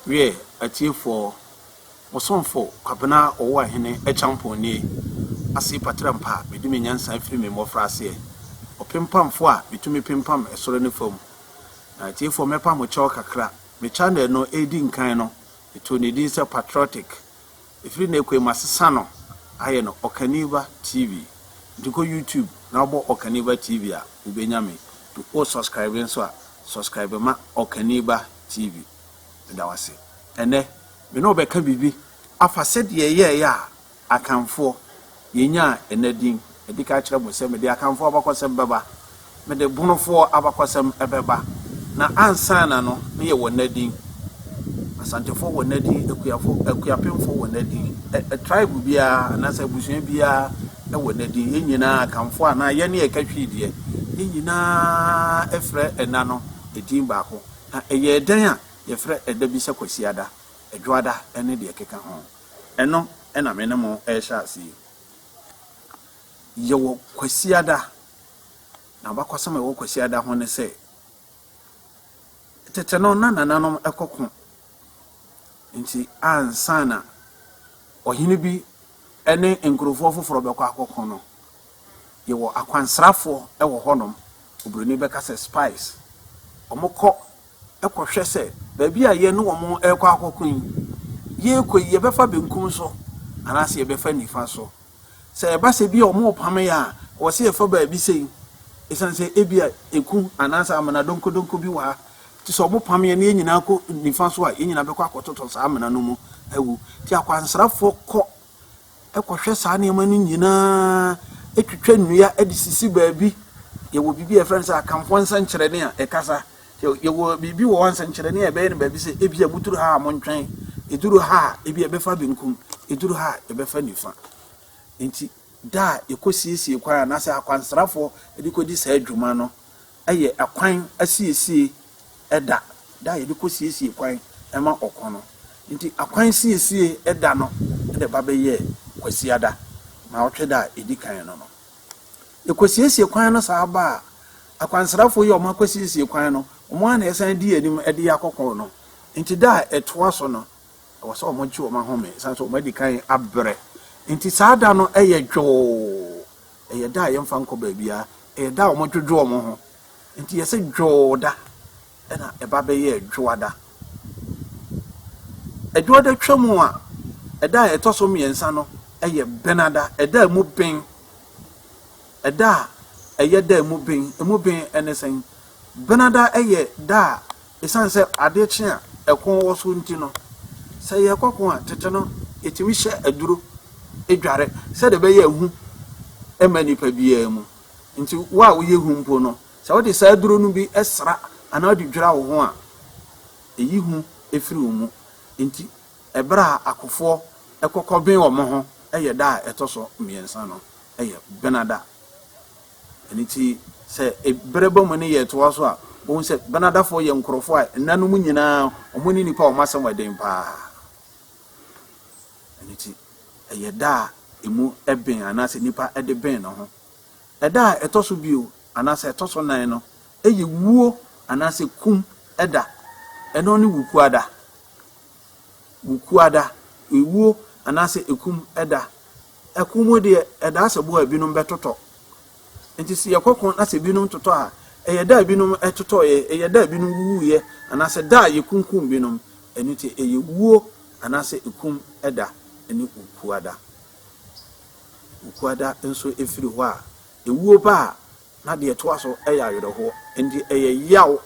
Wiɛ, atiefoɔ, mo somfo Kwabena Ɔwoahene Acheampong nie, Ase Paterampa, medi me nyansa firi me mmɔfraaseɛ, ɔpempamfoɔ a metumi pempam soro ne fam. Atiefoɔ, mɛpa mo kyɛw kakra. Me channel no ɛredi nkan no, metoo ne din sɛ Patriotic. Ɛfiri nnɛ kɔi masesa no ayɛ no Ɔkaniba TV. Nti kɔ YouTube na wobɔ Ɔkaniba TV a, wobɛnya me. Nti wo subscribe nso a, subscribe ma Ɔkaniba TV. Meda wo ase. Ɛnnɛ, me ne wo bɛka biribi afa sɛdeɛ yɛyɛeɛ a, Akanfoɔ, yɛnyaa ɛnnɛ din. Madi ka akyerɛ mo sɛ mede Akanfoɔ abakɔsɛm bɛba, mede Bonofoɔ abakɔsɛm bɛba, na ansaana no ne yɛwɔ ɛnnɛ din. Asantefoɔ wɔ ɛnnɛ din, Akuafo, Akuapemfoɔ wɔ ɛnnɛ din, ɛ, tribe biara anaasɛ abusua biara wɔ ɛnnɛ din. Yɛn nyinaa, Akanfoɔ anaa yɛn ne ɛka hwii deɛ, yɛn nyinaa frɛ ɛnna no din baako. Na ɛyɛɛ dɛn a yɛfrɛ ɛda bi sɛ Kwasiada, Adwoada ne deɛ ɛkeka ho. Ɛno na me ne mo rehyɛ ase yi. Yɛwɔ Kwasiada, na abakɔsɛm a ɛwɔ Kwasiada ho ne sɛ, tete no na nananom kɔ ko. Nti ansa na ɔhene bi ne nkurɔfoɔ foforɔ bɛkɔ akɔko no, Yɛwɔ akwansrafoɔ wɔ hɔnom, obroni bɛka sɛ spies. Wɔkɔ kɔhwɛ sɛ baabi a yɛne wɔn rekɔ akɔko yi, yɛrekɔ yi yɛbɛfa benkum so anaasɛ yɛbɛfa nifa so. Sɛ ɛba sɛ bi a wɔrepamo yɛn a, wɔ sɛ yɛfa baabi sei ɛsiane sɛ ebi a eku anaasɛ amena donkodonko bi wɔ ha. Nti sɛ wɔpamo yɛn na yɛn nyinaa kɔ nifa so a, yɛn nyinaa bɛkɔ akɔtotɔ saa amena no mu awu. Nti akwansrafoɔ kɔ kɔhwɛ saa nneɛma no nyinaa, twitwa nnua de sisi baabi. Yɛwɔ biribi a yɛfrɛ no sɛ Akanfoɔ nsɛnkyerɛnne a ɛkasa. Yɛwɔ biribi wɔ hɔ a nsɛnkyerɛnne a ɛbɛyɛ no baabi sɛ ebi a muduru ha a montwɛn, ɛduru ha a ebi a ɛbɛfa benkum, ɛduru ha a ɛbɛfa nifa. Nti da a yɛkɔsiesie kwan anaasɛ akwansrafoɔ de kɔdi saa dwuma no, yɛ kwan asiesie da da a yɛde kɔsiesie kwan ma ɔko no. Enti akwan siesie da no de ba bɛyɛɛ Kwasiada, Nnawɔtwe da a ɛdi kan no no. Yɛkɔsiesie kwan no saa ba a, akwansrafoɔ yi a wɔakɔsiesie kwan no, wɔn ara na ɛsan di anim de yɛ akɔko no. Enti da a ɛtoa so no, ɛwɔ sɛ wɔgye wɔn ahome, ɛsiane sɛ wɔadi kan abrɛ. Enti saa da no yɛ dwoo. Ɛyɛ da a yɛmfa nkɔ baabiara. Ɛyɛ da a wɔdwodwo wɔn ho. Enti yɛse Dwoo da, ɛna ɛba bɛyɛɛ Dwoada. Dwoada twam a, ɛda a ɛtɔ so mmiɛnsa no yɛ Benada, ɛda a emu ben. Ɛda a ɛyɛ da a emu ben, emu ben ne sɛn? Benada yɛ da a Esiane sɛ adeɛ kye a ɛko wɔ so nti no, sɛ yɛkɔ ko a, tete no yɛtumi hyɛ aduro dware sɛdeɛ ɛbɛyɛ a hu mma nnipa biara mu. Nti wo a woyɛ hu mpo no, sɛ wode saa aduro no bi sra anaa wode dwira wo ho a, ɛyi hu firi wo mu. Nti ɛberɛ a akofoɔ kɔ kɔben wɔn ho yɛ da a ɛtɔ so mmiɛnsa no yɛ Benada. Ɛno nti, sɛ bere ba mu ne yɛn toa so a, wohu sɛ Benadafo yɛ nkurɔfo a nna no mu nyinaa wɔne nnipa a wɔn asɛm yɛ den paa. Ɛno nti, ɛyɛ da a emu ben anaasɛ nipa de ben ne ho. Ɛda a ɛtɔ so bio anaasɛ ɛtɔ so nan no, ɛyɛ wuo anaasɛ kum da. Ɛno ne wukuada. Wukuada, ewuo anaasɛ ekum da. Ɛko mu deɛ, ɛdaa sɛ boɔ a binom bɛtotɔ. Enti sɛ yɛkɔ ko na sɛ binom totɔ a, ɛyɛ da a binom totɔeɛ, ɛyɛ da a binom wuwuiɛ, anaasɛ da a yɛkunkum binom. Ɛno nti ɛyɛ wuo anaasɛ ɛkum da ne okua da. Okua da nso firi hɔ a, ɛwuo ba a, na deɛ ɛtoa so yɛ awerɛhoɔ. Enti ɛyɛ yaw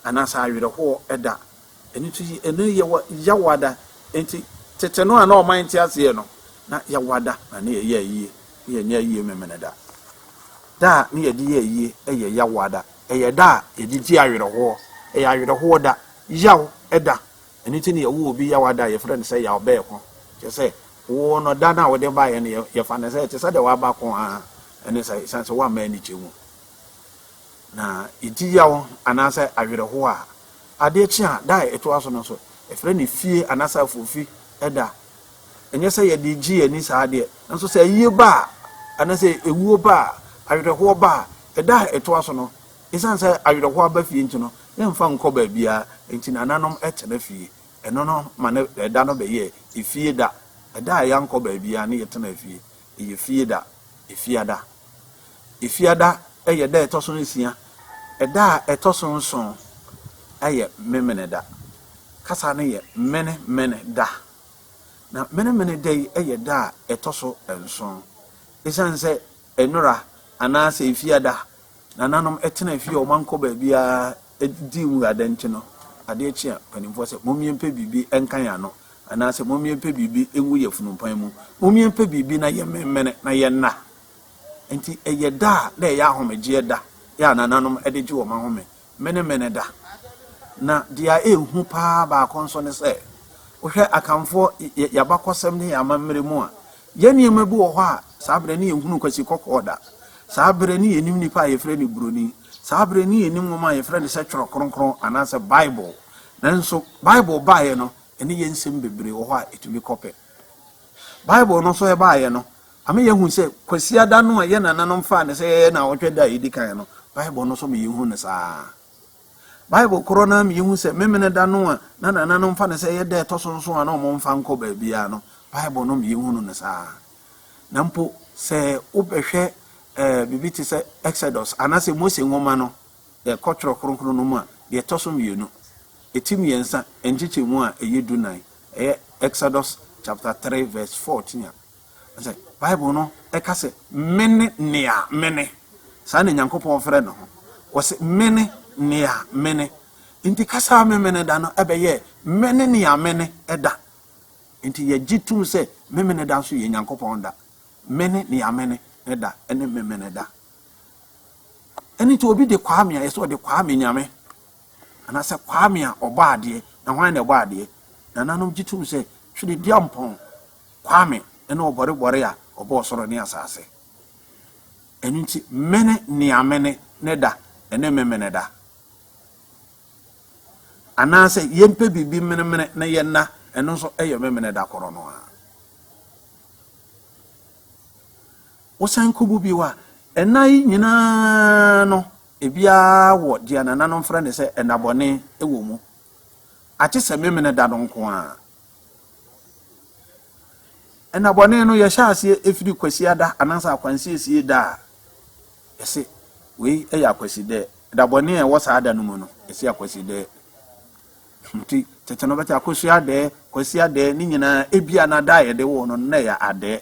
anaasɛ awerɛhoɔ da. Ɛno nti, ɛnnɛ yi yɛwɔ Yawada. Enti, tete no a na ɔman nte aseɛ no, na Yawada na ne yɛyɛ ayie. Ne yɛnyɛ ayie Memeneda. Da a ne yɛde yɛ ayie yɛ Yawada. Ɛyɛ da a yɛde gye awerɛhoɔ. Ɛyɛ awerɛhoɔ da, yaw da. Ɛno nti na yɛwo obi Yawada a, yɛfrɛ no sɛ Yawbɛɛko. Kyerɛ sɛ, wo no, da no a wode baeɛ no, yɛfa no sɛ ɛte sɛ deɛ waba ko ara ne sɛ, ɛsiane sɛ woamma anigye mu. Na enti yaw anaasɛ awerɛhow a ade kye a da a ɛtoa so no nso, yɛfrɛ no fie anaasɛ afofi da. Ɛnyɛ sɛ yɛde gye yɛn ani saa deɛ, nanso sɛ ayie ba a anaasɛ awuo ba a, awerɛhoɔ ba a, ɛda a ɛtoa so no, ɛsiane sɛ awerɛhoɔ aba fie nti no, yɛmfa nkɔ baabiara. Enti nananom tena fie. Ɛno no ma ne ɛda no bɛyɛ efie da, ɛda a yɛankɔ baabiara ne yɛtena fie. Eyɛ fie da, Efiada. Efiada yɛ da a ɛtɔ so nsia. Da a ɛtɔ so nson yɛ Memeneda. Kasa no yɛ Mene Mene da. Na Mene Mene da yi yɛ da a ɛtɔ so nson. Esiane sɛ Enora anaasɛ Efiada nananom tena fie a wɔankɔ baabiara di nwura dɛ ntsi no, adeɛ kye a, mpanimfoɔ sɛ, Mommyɛmpɛ biribi nka yɛn ano, anaasɛ Mommyɛmpɛ biribi ngu yɛn funumpan mu. Mommyɛmpɛ biribi na yɛmmemmene na yɛnna. Enti ɛyɛ da a na ɛyɛ ahomegyeɛ da, yɛ a nananom de gye wɔn ahome, Menemene-da. Na deɛ a ɛyɛ hu pa ara baako nso ne sɛ, wohwɛ Akanfoɔ, yɛ, yɛn abakɔsɛm ne yɛn amammerɛ mu a, yɛn nneɛma bi wɔ hɔ a, saa berɛ no yɛnhunuu kwasikɔkɔɔ da. Saa berɛ no yɛnnim nipa a yɛfrɛ no Buroni. Saa bere no yennim nwoma a yɛfrɛ no sɛ Twerɛ Kronkron anaasɛ Bible. Nanso Bible baeɛ no, ɛne yɛn nsɛm bebree wɔ hɔ a etumi kɔpɛ. Bible no nso ɛbaeɛ no, ama yɛahu sɛ Kwasiada no a yɛn nananom faa no sɛ ɛyɛ nnawɔtwe da a edi kan no, Bible no nso ma yehu no saa ara. Bible korɔ no ara ma yehu sɛ Memeneda no a na nananom fa no sɛ ɛyɛ da a ɛtɔ so nson a na wɔmfa nkɔ baabiara no, Bible no ma yehunu no saa ara. Na mpo sɛ wobɛhwɛ ɛɛ biribi te sɛ Exodus anaasɛ Mose nwoma no, yɛkɔ Twerɛ Kronkron no mu a, deɛ ɛtɔ so mmienu, ti mmiɛnsa, nkyekyɛmu a ɛyɛ du nan, ɛyɛ Exodus chapter three verse fourteen a, sɛ Bible no ɛka sɛ mene nea mene. Saa na Nyankopɔn frɛ ne ho. Wɔsɛ mene nea mene. Nti kasa a memene da no ɛbɛyɛɛ mene nea mene da. Enti yɛgye tom sɛ Memeneda nso yɛ Nyankopɔn da. Mene nea mene ne da ne Memeneda. Ɛno nti obi de Kwame a, yɛsɛ ɔde Kwame Nyame. Anaasɛ Kwame a ɔbɔ adeɛ. Na hwan na ɛbɔ adeɛ? Nananom gye tom sɛ Twere Duampɔn Kwame ne ɔbɔrebɔre a ɔbɔɔ soro ne asase. Ɛno nti mene nea mene ne da ne Memeneda. Anaasɛ yɛmpɛ biribi menemene na yɛnna, ɛno nso yɛ Memenɛ da korɔ no ara. Wosan kɔbu bio a, ɛnna yi nyina ara no, ebiara wɔ deɛ nananom frɛ no sɛ ɛnnabɔne wɔ mu, agye sɛ Memenɛ da no nko ara. Nna bɔne no yɛhyɛ aseɛ firi Kwasiada anaasɛ Akwansiesie da a yɛse wei yɛ Akwasidɛɛ. Da bɔne a ɛwɔ saa da no mu no yɛse Akwasidɛɛ. Nti tete no bɛte Akosuadɛɛ, Kwasiadɛɛ ne nyinaa ebia na da a yɛde woo no no na ɛyɛ Adɛɛ.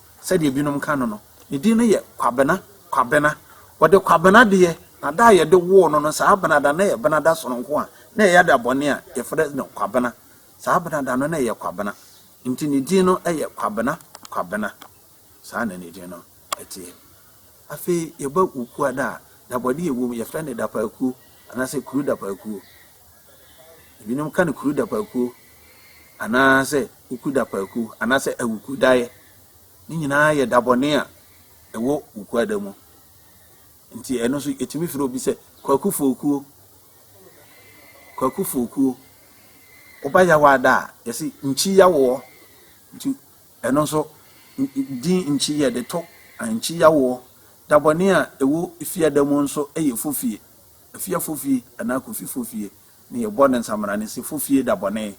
Sɛdeɛ binom ka no no, ne din no yɛ Kwabena, Kwabena. Wɔde Kwabena deɛ, na da a yɛde woo no no, saa Bena da no na ɛyɛ Bena da sononko a na ɛyɛ da bɔne a yɛfrɛ no Kwabena. Saa Bena da no na ɛyɛ Kwabena. Nti ne din no yɛ Kwabena, Kwabena. Saa na ne din no teɛ. Afei yɛba Wukuada a, dabɔdeɛ a ɛwɔ mu, yɛfrɛ no Dapaakuo anaasɛ Kuru Dapaakuo. Ebinom ka no kuru dapaakuo anaasɛ wuku dapaakuo anaasɛ awuku daeɛ. Ne nyinaa yɛ dabɔne a ɛwɔ wukuada mu. Nti ɛno nso yɛtumi frɛ obi sɛ kwaku fookuo. Kwaku fookuo. Woba yawaada a yɛse nkyi yawoɔ. Nti ɛno nso din nkyi yɛde to nkyi yawoɔ. Dabɔne a ɛwɔ fiada mu nso yɛ fofie. Afiafo fie anaa Kofifo fie ne yɛ bɔ ne nsamena ne sefo fie da bɔne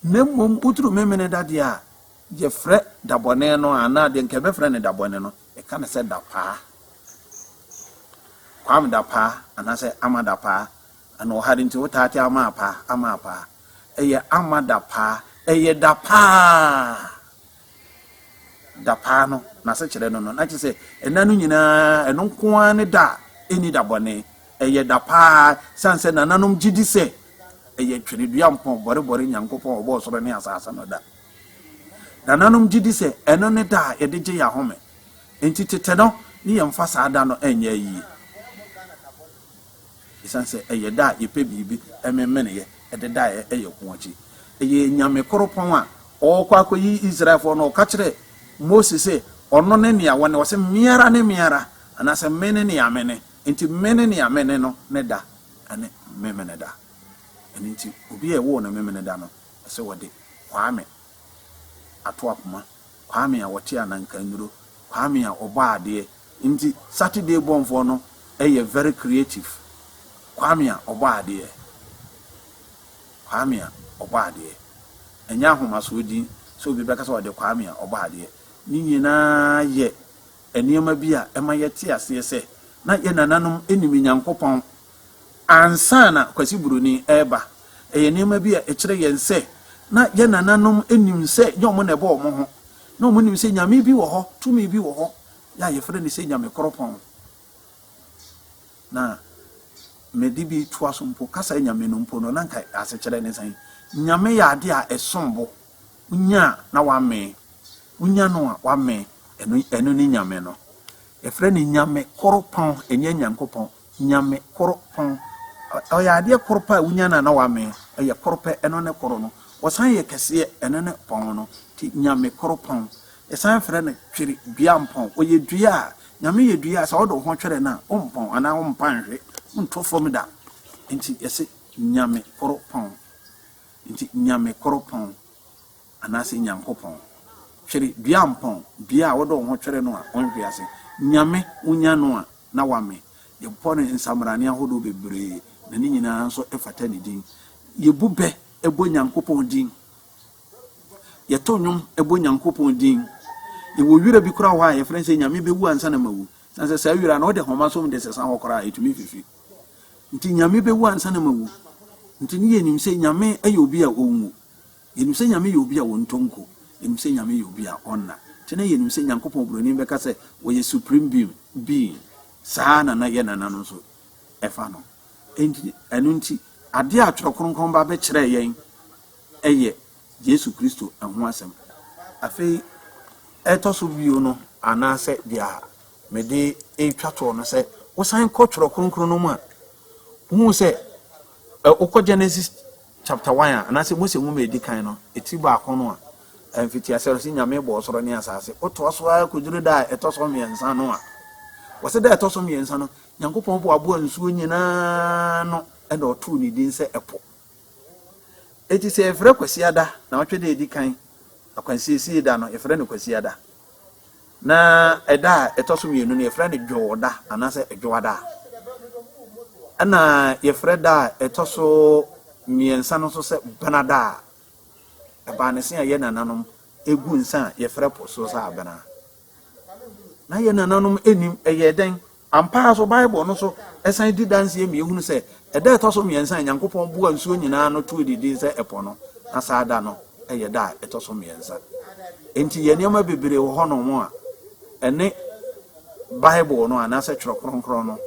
na mmom woturu memene da deɛ a yɛ frɛ da bɔne no anaa deɛ nka yɛbɛfrɛ no da bɔne no yɛka no sɛ da paa kwam da paa anaasɛ ama da paa ana ɔhare nti wotaa te ama paa ama paa ɛyɛ ama da paa ɛyɛ da paa dapaa no, n'asekyerɛ no no, na kyerɛ sɛ nna no nyinaa ɛno nko ara ne da a ɛnni da bɔne. Ɛyɛ da pa ara, ɛsiane sɛ nananom gye di sɛ ɛyɛ twenedua mpɔn bɔrebɔre Nyankopɔn a ɔbɔɔ ɔsoro ne asase no da. Nananom gye di sɛ ɛno ne da a yɛde gye yɛn ahome. Enti tete no, ne yɛmfa saa da no nyɛ ayie. Esiane sɛ ɛyɛ da a yɛpɛ biribi memeneeɛ dedaeɛ yɛ ko akyi. Ɛyɛɛ Nyame koropɔn a ɔɔkɔ akɔyi Israelfoɔ no, ɔka kyerɛɛ Mose se ɔno ne nea ɔne, ɔse meara ne meara, anaasɛ mene nea mene, enti mene nea mene no ne da ne Memeneda. Ɛno nti obi a ɛwoo no Memeneda no, ɛsɛ ɔde Kwame ato akoma. Kwame a wɔte Anankannuro, Kwame a ɔbɔ adeɛ, nti Saturday Bornfoɔ no yɛ very creative, Kwame a ɔbɔ adeɛ, Kwame a ɔbɔ adeɛ, ɛnyɛ ahomasoɔ din sɛ obi bɛka sɛ ɔde Kwame a ɔbɔ adeɛ, ne nyinaa yɛ nneɛma bi a ɛma yɛte aseɛ sɛ na yɛn nananom nim Nyankopɔn Ansa na Kwasi Broni reba, ɛyɛ nneɛma bi a ɛkyerɛ yɛn sɛ na yɛn nananom nim sɛ ɛnyɛ wɔn na ɛbɔ wɔn ho. Na wɔnim sɛ nyame bi wɔ hɔ, tumi bi wɔ hɔ a wɔfrɛ no sɛ Nyamekoropɔn. Na mede bi toa so mpo, kasa nyame no mpo no, na anka asekyerɛ ne sɛn? Nyame yɛ adeɛ a ɛsom bo. Wonya a na woamee. Wonya no a woamee. Ɛno ne nyame no. Yɛfrɛ no Nyamekoropɔn, ɛnyɛ Nyankopɔn. Nyame koro pɔn. Ɔyɛ adeɛ koro pɛ a wonya no a na wamee. Ɔyɛ koro pɛ, ɛno ne koro no. Ɔsan yɛ kɛseɛ, ɛno ne pɔn no. Nti Nyame koro pɔn. Yɛsan frɛ no twere dua mpɔn. Ɔyɛ dua a, Nyame yɛ dua a sɛ wode wo ho twere no a, wompɔn anaa wompa nhwe, wonto fam da. Nti yɛse Nyame koro pɔn. Nti Nyame koro pɔn. Anaasɛ Nyankopɔn. Twere dua mpɔn, dua a wode wo ho twere no a ɔnhwe ase. Nyame, wonya no a, na woame. Yɛbɔ no nsamrane ahodoɔ bebree, na ne nyinaa nso fata ne din. Yɛbu bɛ bɔ Nyankopɔn din. Yɛto nnwom bɔ Nyankopɔn din. Yɛwɔ wira bi koraa wɔ hɔ a yɛfrɛ no sɛ Nyame bɛwu ansa na mawu. Sane sɛ saa wira no wode homa som de sesa hɔ koraa ɛtumi fifi. Nti Nyame bɛwu ansa na mawu. Nti ne yɛnim sɛ Nyame yɛ obi a ɔnwu. Yɛnim sɛ Nyame yɛ obi a ɔntɔ nko, yɛnim sɛ Nyame yɛ obi a ɔnna, nti na yɛnim sɛ Nyankopɔn obroni bɛka sɛ ɔyɛ supreme being, being. Saa ara na yɛn nananom nso fa no. Enti, ɛno nti, adeɛ a Twerɛ Kronkron ba bɛkyerɛɛ yɛn yɛ Yesu Kristo ho asɛm. Afei, ɛtɔ so bio no, anaasɛ deɛ mede retwa toɔ no sɛ, wosan kɔ Twerɛ Kronkron no mu a, wohu sɛ, wokɔ Genesis Chapter One a, anaasɛ Mose Nwoma a Edi Kan no, etiri baako no a, mfitiase no, se Nyame bɔɔ ɔsoro ne asaase. Wotoa so ara koduru da a ɛtɔ so mmiɛnsa no a, wɔse da a ɛtɔ so mmiɛnsa no, Nyankopɔn boaboaa nsuo nyinaa ano na ɔtoo ne din sɛ ɛpo. Enti sɛ yɛfrɛ Kwasiada, Nawɔtwe da a edi kan, Akwansiesie da no, yɛfrɛ no Kwasiada. Na ɛda a ɛtɔ so mmienu no, yɛfrɛ no Dwoda anaasɛ Dwoada. Ɛna yɛfrɛ da a ɛtɔ so mmiɛnsa no nso sɛ Benada a ɛbaa ne se a yɛ nananom egu nsa a yɛfrɛ po so sɛ abena. Na yɛ nananom nim ɛyɛ dɛn? Ampa ara nso, Bible no nso san di danseɛ ma yɛhunu sɛ, ɛda a ɛtɔ so mmiɛnsa a Onyankopɔn boaa nsuo nyinaa ano too ne din sɛ ɛpo no, na saa da no yɛ da a ɛtɔ so mmiɛnsa. Enti yɛn nneɛma bebree wɔ hɔnom a ɛne Bible no anaasɛ Twerɛ Kronkron no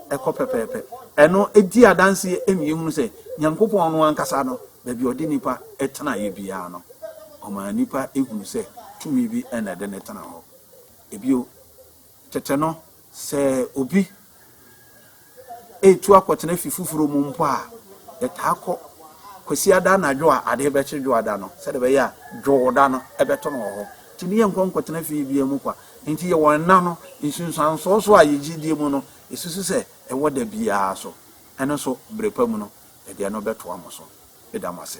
kɔ pɛpɛɛpɛ. Ɛno di adanseɛ ma yɛhunu sɛ, Onyankopɔn no ankasa no, baabi a ɔde nnipa tenaeɛ biara no, ɔmaa nnipa hunu sɛ tumi bi na ɛde no tena hɔ. Bio, Tete no, sɛ obi retu akɔtena fi foforo mu mpo a, yɛtaa kɔ Kwasiada anadwo a ade rebɛkye Dwoada no, sɛdeɛ ɛbɛyɛ a Dwoda no bɛto no wɔ hɔ. Enti ne yɛnkɔ nkɔtena fie biara mu kwa. Enti yɛwɔ nna no nsunsuansoɔ so a yɛgye die mu no, yɛsusu sɛ ɛwɔ da biara so. Ɛno nso, berɛ pa mu no, yɛde ɛno bɛtoa mo so. Meda mo ase.